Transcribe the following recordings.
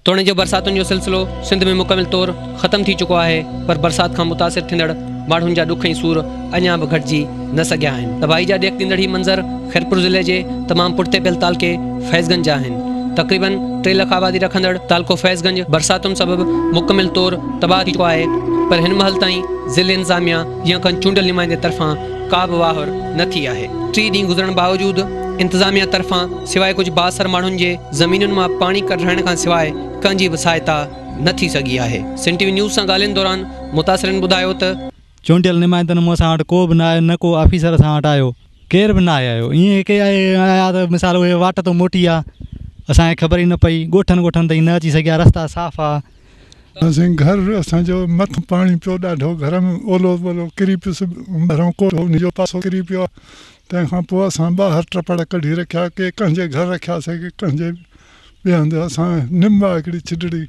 توڻي جو برساتن جو سلسلو سنڌ ۾ مڪمل طور ختم ٿي چڪو آهي پر برسات کان متاثر ٿيندڙ ماڻهن جا ڏک ۽ سور اڃا به گهٽجي نه سگهيا آهن. تباهي جا ڏيک ڏيندڙ هي منظر خيرپور ضلعي جي تمام پٺتي پيل تعلقي فيض گنج جا آهن. تقريبن ٽي لک آبادي رکندڙ تعلقو فيض گنج برساتن سبب مڪمل طور تباهه ٿي چڪو آهي پر هن مهل تائين ضلعي انتظاميا، جيئن کن چونڊيل نمائندي طرفان ڪا به واهر نه ٿي آهي. ٽي ڏينهن گذرڻ باوجود انتظاميا طرفان سواء ڪجهه بااثر ماڻهن جي زمينن مان پاڻي ڪڍرائڻ کان سواء ڪنهن جي به سهائتا نه ٿي سگهي آهي. سنڌ ٽي وي نيوز سان ڳالهين دوران متاثرين ٻڌايو ته. چونڊيل نمائندن مون سان وٽ ڪو به نه آيو نه ڪو آفيسر اسان وٽ آيو. ڪير به ناهي آيو ائين ڪي آيا ته مثال اهي واٽ تون موٽي آ اسان کي خبر ئي نه پئي ڳوٺن ڳوٺن تائين نه اچي سگهيا رستا صاف آ. سائين گهر اسان جو مٿان پاڻي پيو ڏاڍو گهر ۾ اولو ٻولو ڪري پيس ٻاهران ڪوٽ هو ان جو پاسو ڪري پيو تنهن کان پوء اسان ٻاهر ٽپڙ ڪڍي رکيا ڪي ڪنهن جي گهر رکيا سي ڪي ڪنهن جي ٻئي هنڌ اسان نم آهي هڪڙي ڇڊڙي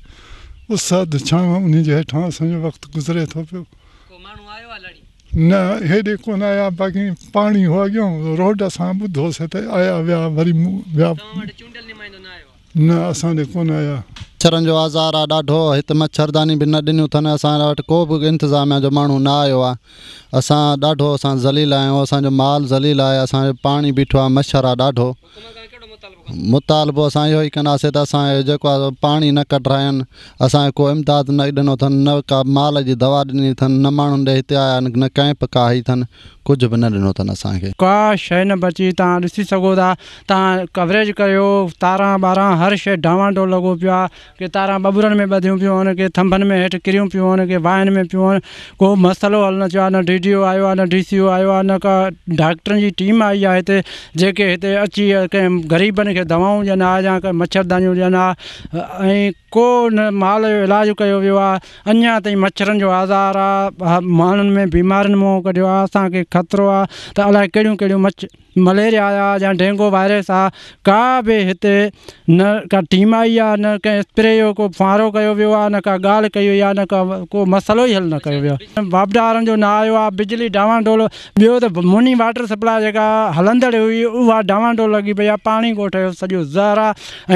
اس اڌ ڇانو انهي جي هيٺان اسان جو وقت گذري ٿو پيو. ڪو ماڻهو آيو آهي لڙي. نه هيڏي ڪونه آيا باقي پاڻي هو اڳيون روڊ اسان ٻڌو سي ته آيا ويا وري مون ويا. توهان وٽ چونڊيل نمائندو نه آيو آهي. نه اسان ڏي ڪونه آيا. مڇرن جو آزار آ ڏاڍو هت مڇرداني به نه ڏنيون ٿن اسان وٽ ڪو به انتظاميا جو ماڻهو نه آيو آ اسان ڏاڍو اسان ذليل آهيون اسان جو مال ذليل آهي اسان جو پاڻي بيٺو آ مڇر آ ڏاڍو مطالبو اسان اهو ئي ڪنداسي ته اسان جو جيڪو آ پاڻي نه ڪڍراين اسان کي ڪو امداد نه ڏنو ٿن نه ڪا مال جي دوا ڏني ٿن نه ماڻهن ڏي هتي آيا آهن نه ڪئمپ ڪا هئي ٿن ڪجهه به نه ڏنو اٿن اسان کي. ڪا شيء نه بچي توهان ڏسي سگهو ٿا توهان ڪوريج ڪريو تاران ٻاران هر شيء ڊانوان ڊول لڳو پيو آهي ڪي تاران ٻٻرن ۾ ٻڌيون پيون هون ڪي ٿنڀن ۾ هيٺ ڪريون پيون هون ڪي واهين ۾ پيون هون ڪو به مسئلو حل نه ٿيو آهي نه ڊي ڊي او آيو آهي نه ڊي سي او آيو آهي نه ڪا ڊاڪٽرن جي ٽيم آئي آهي هتي جيڪي هتي اچي ڪنهن غريبن کي دوائون ڏين آهي يا ڪا مڇردانيون ڏين آهي ۽ ڪو نه مال جو علاج ڪيو ويو آهي اڃان تائين مڇرن جو آزار آ ماڻهن ۾ بيمارين منهن ڪڍيو آ اسان کي خطرو آ ته الاء ڪهڙيون ڪهڙيون مڇ مليريا آ يا ڊينگو وائرس آ ڪا به هتي نه ڪا ٽيم آئي آ نه ڪنهن اسپري جو ڪو ڦوهارو ڪيو ويو آ نه ڪا ڳالهه ڪئي وئي آ نه ڪا ڪو مسئلو ئي حل نه ڪيو ويو آ واپڊارن جو نه آيو آ بجلي ڊانوا ڊول ٻيو ته موني واٽر سپلاء جيڪا هلندڙ هئي اها ڊانوا ڊول لڳي پئي آ پاڻي ڳوٺ جو سڄو زهر آ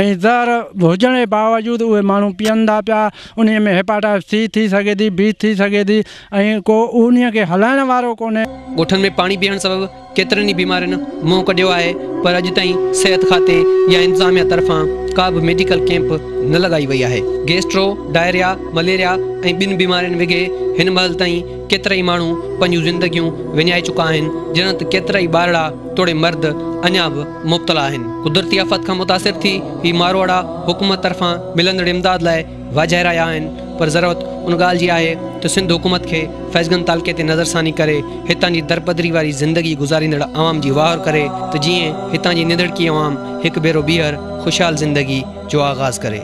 ۽ زهر هجڻ جي باوجود اهي ماڻهو پيئن ٿا پيا انهيء ۾ هيپاٽائٽس سي ٿي سگهي ٿي، بي ٿي سگهي ٿي ۽ ڪو انهيء کي هلائڻ وارو ڪونهي. ڳوٺن ۾ پاڻي بيهڻ سبب ڪيترن ئي بيمارين منهن ڪڍيو آهي پر اڄ تائين صحت کاتي يا انتظاميا طرفان ڪا به ميڊيڪل ڪيمپ نه لڳائي وئي آهي. گيسٽرو، ڊائريا، مليريا ۽ ٻين بيمارين وگهي هن مهل تائين ڪيترائي ماڻهو پنهنجون زندگيون وڃائي چڪا آهن جڏهن ته ڪيترائي ٻارڙا توڙي مرد اڃا به مبتلا آهن، قدرتي آفات کان متاثر ٿي هي ماروئڙا حڪومت طرفان ملندڙ امداد لاء واجهائي رهيا آهن پر ضرورت ان ڳالهه جي آهي ته سنڌ حڪومت کي فيضگنج تعلقي تي نظرثاني ڪري هتان جي درپدري واري زندگي گذاريندڙ عوام جي واهر ڪري ته جيئن هتان جي نڌڙڪي عوام هڪ ڀيرو ٻيهر خوشحال زندگي جو آغاز ڪري.